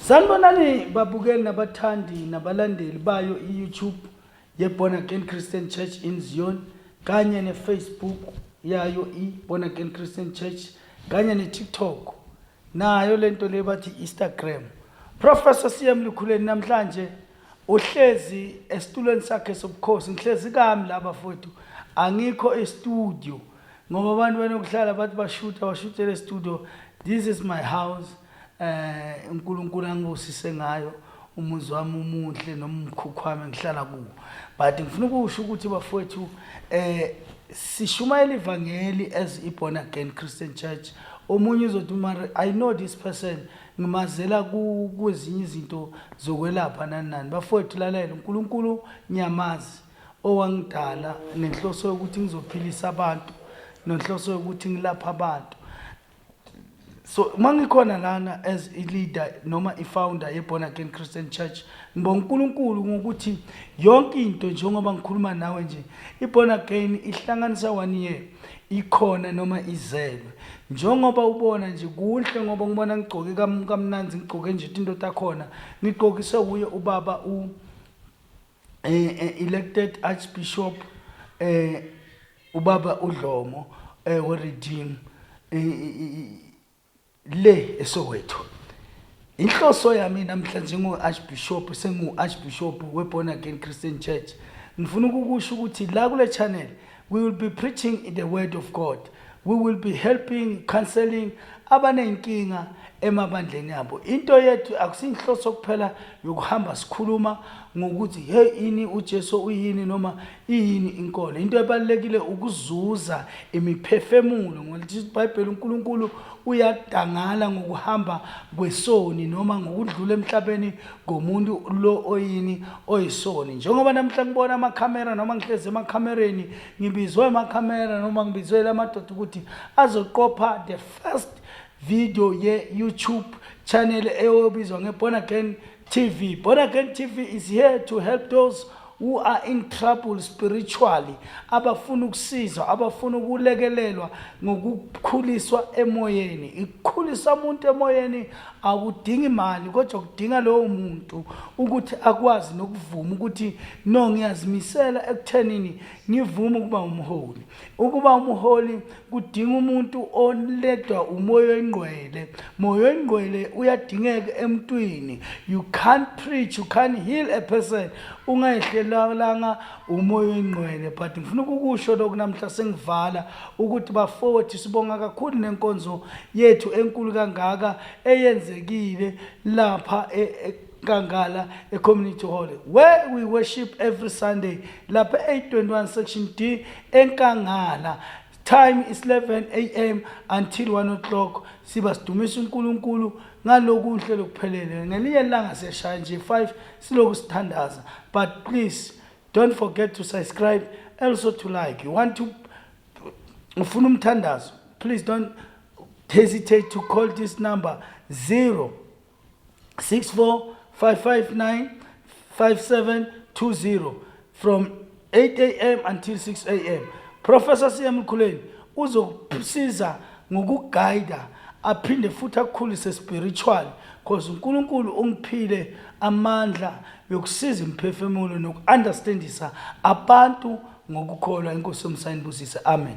Sanibonani babukeli nabathandi nabalandeli bayo i-YouTube ye-Born Again Christian Church in Zion kanye ne-Facebook yayo i-Born Again Christian Church kanye ne-TikTok nayo lento le bathi Instagram. Professor CM Lukhuleni namhlanje uhlezi esitulweni sakhe sobukhosi ngihlezi kami laba futhi angikho e-studio ngoba abantu banokuhlala bathi bashutha bashuthe le-studio this is my house eh uNkulunkulu angibusise ngayo umuzi wami umuhle noma umkhukhwami engihlala kuwo but ngifuna ukusho ukuthi bafowethu eh sishumayela ivangeli as iborn again Christian church omunye uzothi mara i know this person ngimazela kwezinye izinto zokwelapha nani nani bafowethu lalela uNkulunkulu ngiyamazi owangidala nenhloso yokuthi ngizophilisa abantu nenhloso yokuthi ngilapha abantu so uma ngikhona lana as i-leader noma i-founder ye-born again christian church ngibonga unkulunkulu ngokuthi yonke into njengoba ngikhuluma nawe nje i-born again ihlanganisa one year ikhona noma izelwe njengoba ubona nje kuhle ngoba ngibona ngigcoke kamnandi ngigcoke nje into takhona ngigqokise wuye ubaba u eh, eh, elected archbishop eh, ubaba udlomo eh, weredeem eh, i- i- i- le esowethu inhloso yami namhlanje ngu-archbishop sengu-archbishop we-born again christian church ngifuna ukukusho ukuthi la kule channel We will be preaching in the word of God. We will be helping, counseling abanenkinga emabandleni abo. Into yethu akusinhloso kuphela yokuhamba sikhuluma ngokuthi hey ini uJesu uyini noma iyini inkolo. Into ebalekile ukuzuza imiphefemulo ngokuthi iBhayibheli uNkulunkulu uyadangala ngokuhamba kwesoni noma ngokudlula emhlabeni ngomuntu lo oyini oyisoni njengoba namhla ngibona amakhamera noma ngihlezi emakhamereni ngibizwe amakhamera noma ngibizwe lamadoda ukuthi azoqopha the first video ye-youtube channel eyobizwa nge-born again tv born again tv is here to help those who are in trouble spiritually abafuna ukusizwa abafuna ukulekelelwa ngokukhuliswa emoyeni ikukhulisa umuntu emoyeni akudingi imali kodwa kudinga lowo muntu ukuthi akwazi nokuvuma ukuthi no ngiyazimisela ekuthenini ngivume ukuba umholi ukuba umholi kudinga umuntu oledwa umoya oyingqwele moya oyingqwele uyadingeka emntwini you can't preach you can't heal a person ungayehlelanga umoya oyingqwele but ngifuna ukukusho lokhu namhla sengivala ukuthi bafowethu sibonga kakhulu nenkonzo yethu enkulu kangaka eyenzekile lapha e, e, Nkangala eCommunity Hall where we worship every Sunday lapha e821 section D eNkangala time is 11 am until 1 o'clock siba sidumisa uNkulunkulu ngalokuhle lokuphelele ngelinye langa siyashaya nje 5 siloku sithandaza but please don't forget to subscribe also to like you want to ufuna umthandazo please don't hesitate to call this number 0 64559 5720 from 8am until 6am professor siyemkhuleni uzokusiza ngokuguida aphinde futhi akukhulise spiritual cause uNkulunkulu ungiphile amandla yokusiza imphefumulo nokuunderstandisa abantu ngokukholwa inkosi yomsayini busise amen